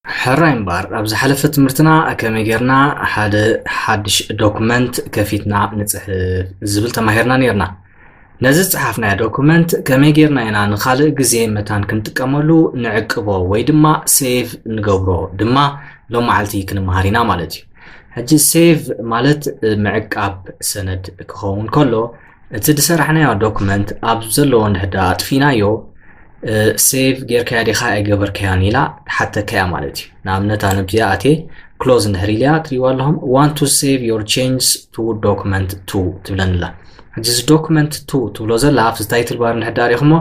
ሕራይ እምበኣር ኣብ ዝሓለፈ ትምህርትና ከመይ ጌርና ሓደ ሓድሽ ዶክመንት ከፊትና ንጽሕፍ ዝብል ተማሂርና ኔርና። ነዚ ዝጸሓፍናዮ ዶኩመንት ከመይ ጌርና ኢና ንኻልእ ግዜ መታን ክንጥቀመሉ ንዕቅቦ ወይ ድማ ሴቭ ንገብሮ ድማ ሎም መዓልቲ ክንመሃር ኢና ማለት እዩ ሕጂ ሴቭ ማለት ምዕቃብ ሰነድ ክኸውን ከሎ እቲ ዝሰራሕናዮ ዶክመንት ኣብ ዘለዎ እንድሕዳ ኣጥፊናዮ ሴቭ ጌርካያ ዲኻ ኣይገበርካያን ኢላ ሓተካያ ማለት እዩ ንኣብነት ኣነ ብዚኣ ኣቴ ክሎዝ እንድሕር ኢልያ ትሪዋ ኣለኹም ዋን ቱ ሴቭ ዮር ቼንጅስ ቱ ዶክመንት ቱ ትብለኒ ኣላ ሕጂ እዚ ዶክመንት ቱ ትብሎ ዘላ ኣብቲ ታይትል ባር ንሕዳር ኢኹሞ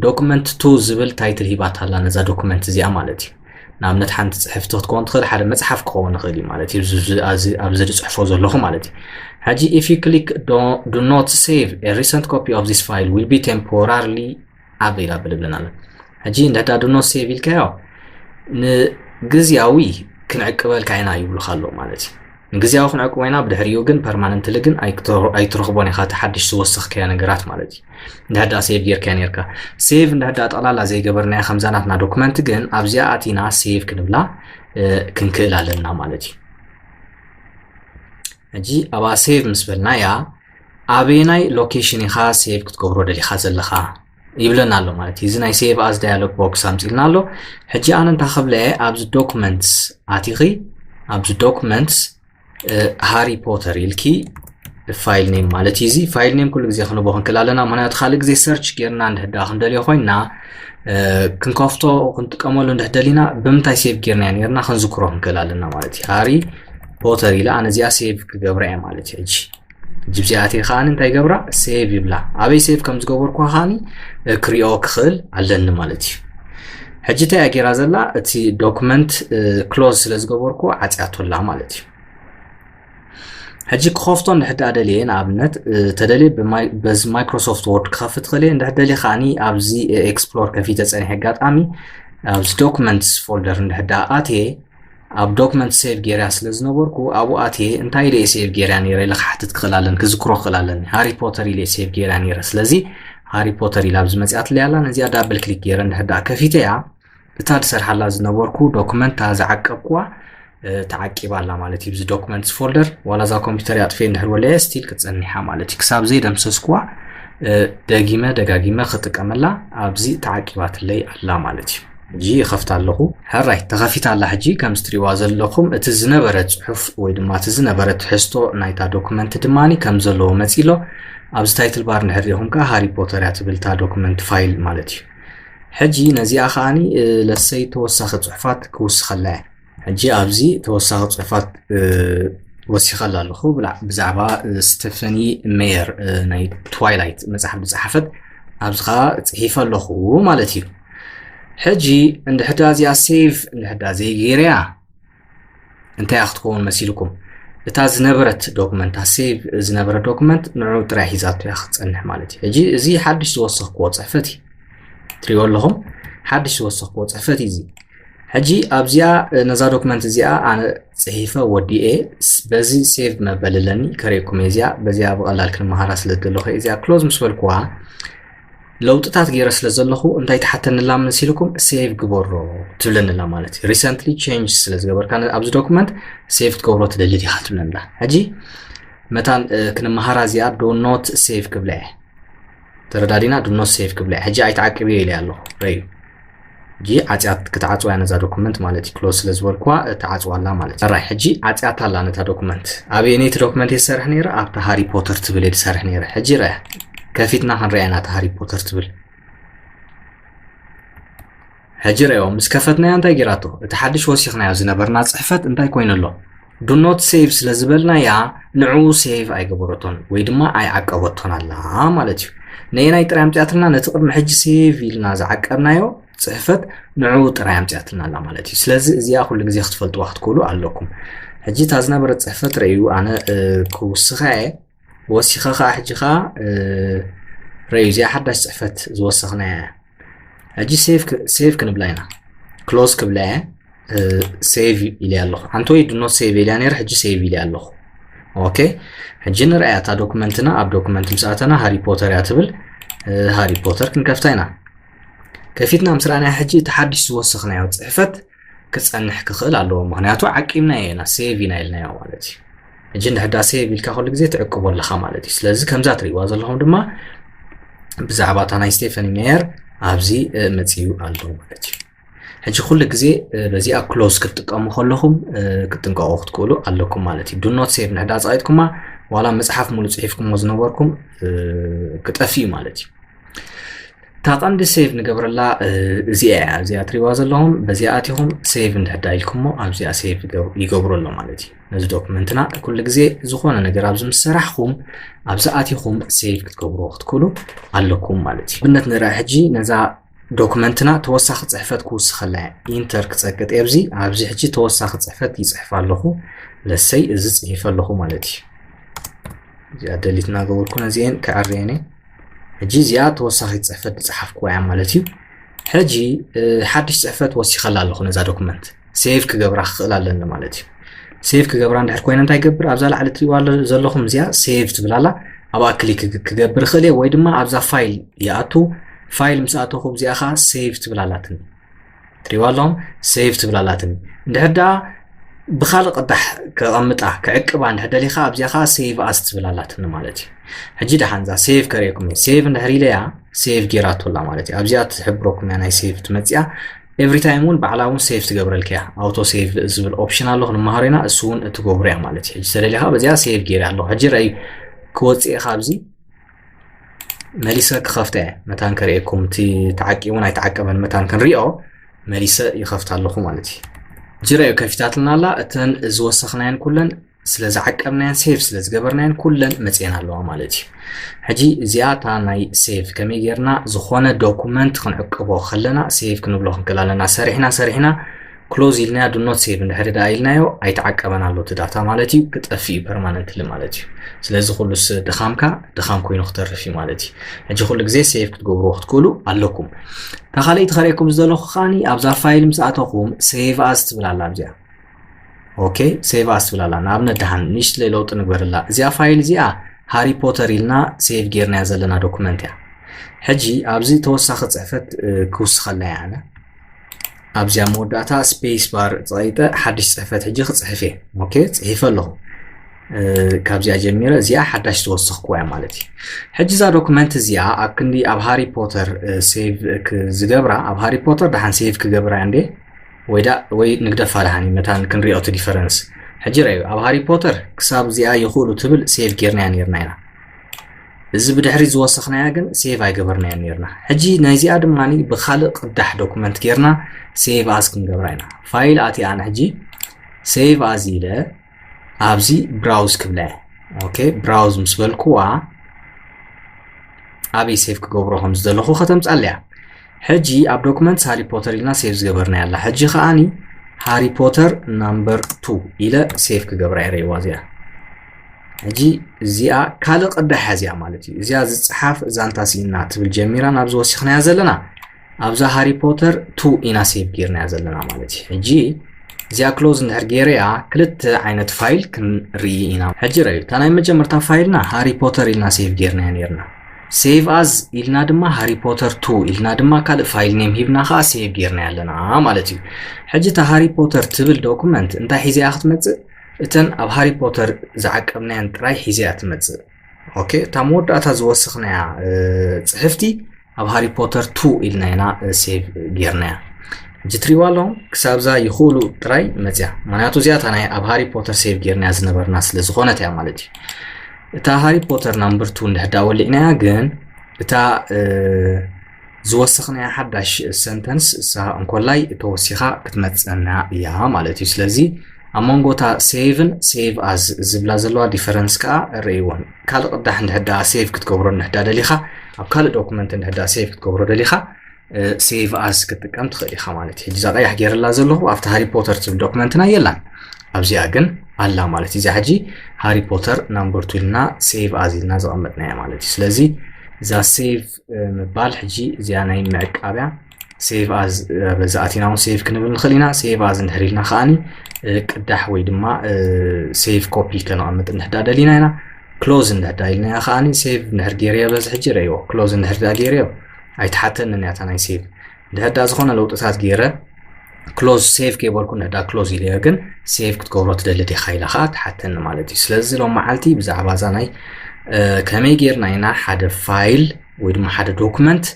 ዶክመንት ቱ ዝብል ታይትል ሂባት ኣላ ነዛ ዶክመንት እዚኣ ማለት እዩ ንኣብነት ሓንቲ ፅሕፍቲ ክትከውን ትኽእል ሓደ መፅሓፍ ክኸውን ይኽእል እዩ ማለት እዩ ኣብዚ ዝፅሕፎ ዘለኹ ማለት እዩ ሕጂ ኢፍ ዩ ክሊክ ዱ ኖት ሴቭ ሪሰንት ኮፒ ኦፍ ዚስ ፋይል ዊል ቢ ቴምፖራርሊ ዓቢ ኢላ ብልብለን ኣለ ሕጂ እንድሕዳ ድኖ ሴቭ ኢልካዮ ንግዝያዊ ክንዕቅበልካ ኢና ይብሉካ ኣሎ ማለት እዩ ንግዝያዊ ክንዕቅቦ ኢና ብድሕሪኡ ግን ፐርማነንትሊ ግን ኣይትረኽቦን ኢኻ እቲ ሓድሽ ዝወሰኽከዮ ነገራት ማለት እዩ እንድሕዳ ሴቭ ጌርካ ነርካ ሴቭ እንድሕዳ ጠቕላላ ዘይገበርናዮ ከምዛ ናትና ዶክመንት ግን ኣብዚኣ ኣቲና ሴቭ ክንብላ ክንክእል ኣለና ማለት እዩ ሕጂ ኣብኣ ሴቭ ምስ በልናያ ኣበየናይ ሎኬሽን ኢኻ ሴቭ ክትገብሮ ደሊኻ ዘለኻ ይብለና ኣሎ ማለት እዩ እዚ ናይ ሴቭ ኣዝ ዳያሎግ ቦክስ ኣምፅልና ኣሎ ሕጂ ኣነ እንታ ክብለ ኣብዚ ዶክመንትስ ኣቲኺ ኣብዚ ዶክመንትስ ሃሪ ፖተር ኢልኪ ፋይል ኔም ማለት እዩ እዚ ፋይል ኔም ኩሉ ግዜ ክንቦ ክንክል ኣለና ምክንያቱ ካልእ ግዜ ሰርች ጌርና እንድሕዳ ክንደልዮ ኮይና ክንከፍቶ ክንጥቀመሉ እንድሕደሊና ብምንታይ ሴቭ ጌርና ነርና ክንዝክሮ ክንክል ኣለና ማለት እዩ ሃሪ ፎተር ኢለ ኣነ እዚኣ ሴቭ ክገብራ እየ ማለት እዩ ሕጂ ሕጂ ብዚኣ ኣትየ ከዓኒ እንታይ ገብራ ሴቭ ይብላ ኣበይ ሴቭ ከም ዝገበርኩ ከዓኒ ክሪኦ ክኽእል ኣለኒ ማለት እዩ ሕጂ እንታይ እያ ጌራ ዘላ እቲ ዶክመንት ክሎዝ ስለ ዝገበርኩ ዓፅያቶ ኣላ ማለት እዩ ሕጂ ክኸፍቶ እንድሕር ደኣ ደልየ ንኣብነት ተደልየ በዚ ማይክሮሶፍት ወርድ ክኸፍት ክእል እየ እንድሕር ደልየ ከዓኒ ኣብዚ ኤክስፕሎር ከፊተ ፀኒሐ ኣጋጣሚ ኣብዚ ዶክመንትስ ፎልደር እንድሕር ደኣ ኣትየ ኣብ ዶክመንት ሴቭ ጌርያ ስለ ዝነበርኩ ኣብኡ ኣትየ እንታይ ኢለ ሴቭ ጌርያ ነይረ ኢለ ክሓትት ክኽእል ኣለኒ ክዝክሮ ክኽእል ኣለኒ ሃሪ ፖተር ኢለ ሴቭ ጌርያ ነይረ ስለዚ ሃሪ ፖተር ኢላ ኣብዚ መፅኣትለ ኣላ ነዚኣ ዳብል ክሊክ ገይረ እንድሕር ዳኣ ከፊተ እያ እታ ዝሰርሓላ ዝነበርኩ ዶክመንታ ዝዓቀብኩዋ ተዓቂባ ኣላ ማለት እዩ ብዚ ዶክመንትስ ፎልደር ዋላ እዛ ኮምፒውተር ኣጥፌ እንድሕር ወለየ ስቲል ክትፀኒሓ ማለት እዩ ክሳብ ዘይደምሰስኩዋ ደጊመ ደጋጊመ ክጥቀመላ ኣብዚ ተዓቂባትለይ ኣላ ማለት እዩ ሕጂ ይኸፍታ ኣለኹ። ሕራይ ተኸፊታ ኣላ ሕጂ ከምዚ ትሪእዋ ዘለኹም እቲ ዝነበረ ጽሑፍ ወይ ድማ እቲ ዝነበረ ትሕዝቶ ናይታ ዶክመንት ድማኒ ከም ዘለዎ መጺእ ኣሎ። ኣብዚ ታይትል ባር እንድሕር ሪኢኹም ከኣ ሃሪ ፖተር እያ ትብል እታ ዶክመንት ፋይል ማለት እዩ። ሕጂ ነዚኣ ከኣኒ ለሰይ ተወሳኺ ጽሑፋት ክውስኸላ እየ። ሕጂ ኣብዚ ተወሳኺ ጽሑፋት ወሲኸላ ኣለኹ። ብዛዕባ ስተፈኒ ሜየር ናይ ትዋይላይት መጽሓፍ ዝጸሓፈት ኣብዚ ከዓ ጽሒፈ ኣለኹ ማለት እዩ። ሕጂ እንድሕዳ እዚኣ ሴቭ እንድሕዳ ዘይገይረያ እንታይ ክትከውን መሲልኩም እታ ዝነበረት ዶክመንት ሴቭ ዝነበረ ዶክመንት ንዑ ጥራይ ሒዛቶ እያ ክትፀንሕ ማለት እዩ ሕጂ እዚ ሓድሽ ዝወሰኽክዎ ፅሕፈት እዩ ትሪእዎ ኣለኹም ሓድሽ ዝወሰኽክዎ ፅሕፈት እዩ እዚ ሕጂ ኣብዚኣ ነዛ ዶክመንት እዚኣ ኣነ ጽሒፈ ወዲኤ በዚ ሴቭ መበል ኣለኒ ከርእኩም እየ እዚኣ በዚኣ ብቐላል ክንመሃራ ስለ ዘለኹ እዚኣ ክሎዝ ምስ በልኩዋ ለውጥታት ገይረ ስለ ዘለኹ እንታይ ትሓተንላ መሲልኩም ሴቭ ግበሮ ትብለንላ ማለት እዩ ሪሰንትሊ ቼንጅ ስለ ዝገበርካ ኣብዚ ዶኩመንት ሴቭ ትገብሮ ትደሊ ዲኻ ትብለንላ ሕጂ መታን ክንመሃራ እዚኣ ዶ ኖት ሴቭ ክብላ እየ ተረዳዲና ዶ ኖት ሴቭ ክብላ እየ ሕጂ ኣይትዓቅብዮ ኢለ ኣለኹ ረዩ ሕጂ ዓጽያት ክትዓጽዋ እያ ነዛ ዶኩመንት ማለት እዩ ክሎዝ ስለ ዝበልኩዋ እትዓጽዋ ኣላ ማለት እዩ ራይ ሕጂ ዓጽያት ኣላ ነታ ዶኩመንት ኣበየነይቲ ዶኩመንት እየ ዝሰርሕ ነይረ ኣብታ ሃሪ ፖተር ትብል እየ ዝሰርሕ ነይረ ሕጂ ራያ ከፊትና ክንሪኣ ኢና እታ ሃሪ ፖተር ትብል ሕጂ ረዮ ምስ ከፈትናዮ እንታይ ጌራቶ እቲ ሓድሽ ወሲኽናዮ ዝነበርና ጽሕፈት እንታይ ኮይኑ ኣሎ ዱ ኖት ሴቭ ስለ ዝበልናያ ንዕኡ ሴቭ ኣይገበረቶን ወይ ድማ ኣይዓቀበቶን ኣላ ማለት እዩ ነየናይ ጥራይ ኣምፅኣትና ነቲ ቅድሚ ሕጂ ሴቭ ኢልና ዝዓቀብናዮ ፅሕፈት ንዕኡ ጥራይ ኣምፅኣትና ኣላ ማለት እዩ ስለዚ እዚኣ ኩሉ ግዜ ክትፈልጥዋ ክትክእሉ ኣለኩም ሕጂ እታ ዝነበረት ፅሕፈት ረእዩ ኣነ ክውስኸ እየ ወሲኻ ኸኣ ሕጂ ኸኣ ረዩ እዚኣ ሓዳሽ ጽሕፈት ዝወሰኽናያ እያ ሕጂ ሴቭ ክንብላ ኢና ክሎዝ ክብላ እየ ሴቭ ኢልያ ኣለኹ ሓንቲ ወይ ድኖ ሴቭ ኢልያ ነይረ ሕጂ ሴቭ ኢልያ ኣለኹ ኦኬ ሕጂ ንርኣያ እታ ዶክመንትና ኣብ ዶክመንት ምስ ኣተና ሃሪ ፖተር እያ ትብል ሃሪ ፖተር ክንከፍታ ኢና ከፊትና ምስ ረኣናያ ሕጂ እቲ ሓድሽ ዝወሰኽናዮ ጽሕፈት ክጸንሕ ክኽእል ኣለዎ ምክንያቱ ዓቂብናዮ ኢና ሴቭ ኢና ኢልናዮ ማለት እዩ እጂ ንሕዳ ሴቭ ኢልካ ኩሉ ግዜ ትዕቅቦ ኣለኻ ማለት እዩ ስለዚ ከምዛ ትርእይዋ ዘለኹም ድማ ብዛዕባ እታ ናይ ስቴፈኒ ሜየር ኣብዚ መፅዩ ኣሎ ማለት እዩ ሕጂ ኩሉ ግዜ በዚኣ ክሎዝ ክትጥቀሙ ከለኹም ክትጥንቀቑ ክትክእሉ ኣለኩም ማለት እዩ ዱኖት ሴቭ ንሕዳ ፀቂጥኩማ ዋላ መፅሓፍ ሙሉ ፅሒፍኩሞ ዝነበርኩም ክጠፍእ እዩ ማለት እዩ እታ ቀንዲ ሴቭ ንገብረላ እዚኣ እያ እዚኣ ትሪዋ ዘለኹም በዚኣ ኣቲኹም ሴቭ እንድሕዳ ኢልኩሞ ኣብዚኣ ሴቭ ይገብሩ ኣሎ ማለት እዩ ነዚ ዶክመንትና ኩሉ ግዜ ዝኾነ ነገር ኣብዚ ምስ ሰራሕኹም ኣብዚ ኣቲኹም ሴቭ ክትገብሩ ክትክእሉ ኣለኩም ማለት እዩ ብነት ንርኣ ሕጂ ነዛ ዶክመንትና ተወሳኺ ፅሕፈት ክውስኸላ ኢንተር ክፀቅጥ ኣብዚ ኣብዚ ሕጂ ተወሳኺ ፅሕፈት ይፅሕፍ ኣለኹ ለሰይ እዚ ፅሒፈ ኣለኹ ማለት እዩ እዚኣ ደሊትና ገበርኩ ነዚአን ክዕርየን እየ ሕጂ እዚኣ ተወሳኺት ጽሕፈት ዝጸሓፍኩዋ እያ ማለት እዩ ሕጂ ሓድሽ ጽሕፈት ወሲኸላ ኣለኹ ነዛ ዶክመንት ሴቭ ክገብራ ክኽእል ኣለኒ ማለት እዩ ሴቭ ክገብራ እንድሕር ኮይነ እንታይ ገብር ኣብዛ ላዕሊ ትሪእዋ ዘለኹም እዚኣ ሴቭ ትብላላ ኣብኣ ክሊክ ክገብር እኽእል እየ ወይ ድማ ኣብዛ ፋይል ይኣቱ ፋይል ምስ ኣተኹ እዚኣ ከዓ ሴቭ ትብላላትኒ ትሪዋ ኣለኹም ሰይቭ ትብል ኣላትኒ እንድሕር ደኣ ብካልእ ቅዳሕ ከቐምጣ ክዕቅባ እንድሕር ደሊኻ ኣብዚኣ ከዓ ሰይቭ ኣስ ትብል ኣላትኒ ማለት እዩ ሕጂ ደሓንዛ ሰይቭ ከርእየኩም እዩ ሰይቭ እንድሕር ኢለያ ሰይቭ ጌራቶላ ማለት እዩ ኣብዚኣ ትሕብረኩም እያ ናይ ሰይቭ ትመፅያ ኤቭሪ ታይም እውን ባዕላ እውን ሰይቭ ትገብረልካ እያ ኣውቶ ሰይቭ ዝብል ኦፕሽን ኣሎ ክንመሃሮ ኢና እሱ እውን እትገብሩ እያ ማለት እዩ ሕጂ ተደሊኻ በዚኣ ሰይቭ ገይረ ኣለኹ ሕጂ ረእዩ ክወፅእ እየ ካብዚ መሊሰ ክኸፍተ እየ መታን ከርእየኩም እቲ ተዓቂቡን ኣይተዓቀበን መታን ክንሪኦ መሊሰ ይኸፍት ኣለኹ ማለት እዩ ጅረ እዩ ከፊታትና ኣላ እተን ዝወሰኽናየን ኩለን ስለ ዝዓቀብናየን ሴቭ ስለ ዝገበርናየን ኩለን መፅየን ኣለዋ ማለት እዩ ሕጂ እዚኣ እታ ናይ ሴቭ ከመይ ጌርና ዝኾነ ዶኩመንት ክንዕቅቦ ከለና ሴቭ ክንብሎ ክንክል ኣለና ሰሪሕና ሰሪሕና ክሎዝ ኢልናያ ዱ ኖት ሴቭ እንድሕሪ ደኣ ኢልናዮ ኣይተዓቀበን ኣሎ እቲ ዳታ ማለት እዩ ክጠፍእ እዩ ፐርማነንትሊ ማለት እዩ ስለዚ ኩሉ ድኻምካ ድኻም ኮይኑ ክተርፍ እዩ ማለት እዩ ሕጂ ኩሉ ግዜ ሴቭ ክትገብርዎ ክትክእሉ ኣለኩም እታ ካልኣይቲ ከርእየኩም ዝደለኹ ከዓኒ ኣብዛ ፋይል ምስ ኣተኹም ሴቭ ኣዝ ትብል ኣላ ኣብዚኣ ኦኬ ሴቭ ኣዝ ትብል ኣላ ንኣብነት ድሓን ንእሽትለይ ለውጢ ንግበርላ እዚኣ ፋይል እዚኣ ሃሪ ፖተር ኢልና ሴቭ ጌርናያ ዘለና ዶኩመንት እያ ሕጂ ኣብዚ ተወሳኺ ፅሕፈት ክውስኸላ እያ ኣነ ኣብዚኣ መወዳእታ ስፔስ ባር ፀቂጠ ሓድሽ ፅሕፈት ሕጂ ክፅሕፍ እየ ኦኬ ፅሒፈ ኣለኹ ካብዚኣ ጀሚረ እዚኣ ሓዳሽ ዝወሰኽኩዋ እያ ማለት እዩ ሕጂ እዛ ዶክመንት እዚኣ ኣብ ክንዲ ኣብ ሃሪ ፖተር ሴቭ ዝገብራ ኣብ ሃሪ ፖተር ድሓን ሴቭ ክገብራ እንዴ ወይ ዳ ወይ ንግደፋ ድሓኒ መታን ክንሪኦ እቲ ዲፈረንስ ሕጂ ረዩ ኣብ ሃሪ ፖተር ክሳብ እዚኣ ይኽእሉ ትብል ሴቭ ጌርናያ ነርና ኢና እዚ ብድሕሪት ዝወሰኽናያ ግን ሴቭ ኣይገበርናያን ነርና። ሕጂ ናይዚኣ ድማ ብካልእ ቅዳሕ ዶኩመንት ጌርና ሴቭ ኣዝ ክንገብራ ኢና። ፋይል ኣትየ ኣነ ሕጂ ሴቭ ኣዝ ኢለ ኣብዚ ብራውዝ ክብላ እየ። ኦኬ ብራውዝ ምስ በልኩዋ ኣበይ ሴቭ ክገብሮ ከም ዝደለኹ ከተምጻለያ ሕጂ ኣብ ዶክመንትስ ሃሪ ፖተር ኢልና ሴቭ ዝገበርናያ ኣላ ሕጂ ከዓኒ ሃሪ ፖተር ናምበር ቱ ኢለ ሴቭ ክገብራ እየ ረይዋ እዚኣ ሕጂ እዚኣ ካልእ ቅዳ ሓዚያ ማለት እዩ እዚኣ ዝፀሓፍ ዛንታ ስኢና ትብል ጀሚራ ናብዚ ወሲኽናያ ዘለና ኣብዛ ሃሪ ፖተር ቱ ኢና ሴቭ ጌርናያ ዘለና ማለት እዩ ሕጂ እዚኣ ክሎዝ እንድሕር ጌረያ ክልተ ዓይነት ፋይል ክንርኢ ኢና ሕጂ ረዩ እታ ናይ መጀመርታ ፋይልና ሃሪ ፖተር ኢልና ሴቭ ጌርናያ ነርና ሴቭ ኣዝ ኢልና ድማ ሃሪ ፖተር ቱ ኢልና ድማ ካልእ ፋይል ኔም ሂብና ከዓ ሴቭ ጌርናያ ኣለና ማለት እዩ ሕጂ እታ ሃሪ ፖተር ትብል ዶኩመንት እንታይ ሒዘያ ክትመፅእ እተን ኣብ ሃሪ ፖተር ዝዓቀብናየን ጥራይ ሒዘ እያ ትመጽእ ኦኬ እታ መወዳእታ ዝወሰኽናያ ጽሕፍቲ ኣብ ሃሪ ፖተር ቱ ኢልና ኢና ሴቭ ጌርናያ እጅ ትሪዋ ኣለኹም ክሳብዛ ይኽእሉ ጥራይ መፅያ ምክንያቱ እዚኣታ ናይ ኣብ ሃሪ ፖተር ሴቭ ጌርናያ ዝነበርና ስለ ዝኾነት እያ ማለት እዩ እታ ሃሪ ፖተር ናምበር ቱ እንድሕዳ ወሊዕናያ ግን እታ ዝወሰኽናያ ሓዳሽ ሰንተንስ እሳ እንኮላይ ተወሲኻ ክትመፅና እያ ማለት እዩ። ስለዚ ኣብ መንጎ እታ ሴቭን ሴቭ ኣዝ ዝብላ ዘለዋ ዲፈረንስ ከዓ ርእይዎን ካልእ ቅዳሕ እንድሕዳ ሴቭ ክትገብሮ እንድሕዳ ደሊኻ ኣብ ካልእ ዶኩመንት እንድሕዳ ሴቭ ክትገብሮ ደሊኻ ሴቭ ኣስ ክትጥቀም ትኽእል ኢኻ ማለት እዩ እዛ ቀያሕ ገይረላ ዘለኹ ኣብቲ ሃሪ ፖተር ትብል ዶክመንትና የላን ኣብዚኣ ግን ኣላ ማለት እዩ እዛ ሕጂ ሃሪ ፖተር ናምበር ቱ ኢልና ሴቭ ኣዝ ኢልና ዘቐመጥናያ ማለት እዩ ስለዚ እዛ ሴቭ ምባል ሕጂ እዚኣ ናይ ምዕቃብያ ሴቭ ኣዝ በዚ ኣቲና እውን ሴቭ ክንብል ንኽእል ኢና ሴቭ ኣዝ እንድሕር ኢልና ከዓኒ ቅዳሕ ወይ ድማ ሴቭ ኮፒ ከነቐምጥ እንድሕዳ ደሊና ኢና ክሎዝ እንድሕዳ ኢልናያ ከዓኒ ሴቭ እንድሕር ገይረዮ በዚ ሕጂ ረእይዎ ክሎዝ እንድሕር ዳ ገይረዮ ኣይትሓተንን እያታ ናይ ሴቭ እንድሕር ዳ ዝኾነ ለውጥታት ገይረ ክሎዝ ሴቭ ከይበልኩ ንዕዳ ክሎዝ ኢለዮ ግን ሴቭ ክትገብሮ ትደሊ ዲኻ ኢላ ከዓ ትሓተኒ ማለት እዩ ስለዚ ሎም መዓልቲ ብዛዕባ እዛ ናይ ከመይ ጌርና ኢና ሓደ ፋይል ወይ ድማ ሓደ ዶክመንት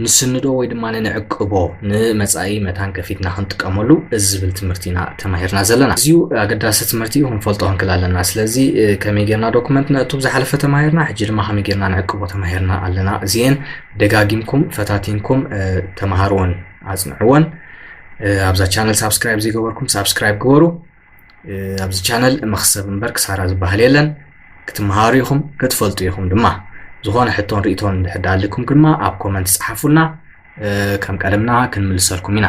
ንስንዶ ወይ ድማ ንዕቅቦ ንመፃኢ መታን ከፊትና ክንጥቀመሉ እዚ ዝብል ትምህርቲ ኢና ተማሂርና ዘለና እዚዩ ኣገዳሲ ትምህርቲ እዩ ክንፈልጦ ክንክል ኣለና ስለዚ ከመይ ጌርና ዶክመንት ነእቱ ዝሓለፈ ተማሂርና ሕጂ ድማ ከመይ ጌርና ንዕቅቦ ተማሂርና ኣለና እዚየን ደጋጊምኩም ፈታቲንኩም ተማሃርዎን ኣጽንዕዎን ኣብዛ ቻነል ሳብስክራይብ ዘይገበርኩም ሳብስክራይብ ግበሩ ኣብዚ ቻነል መክሰብ እምበር ክሳራ ዝበሃል የለን ክትመሃሩ ኢኹም ክትፈልጡ ኢኹም ድማ ዝኾነ ሕቶን ርእቶን እንድሕር ዳኣልኩም ድማ ኣብ ኮመንት ጽሓፉልና ከም ቀደምና ክንምልሰልኩም ኢና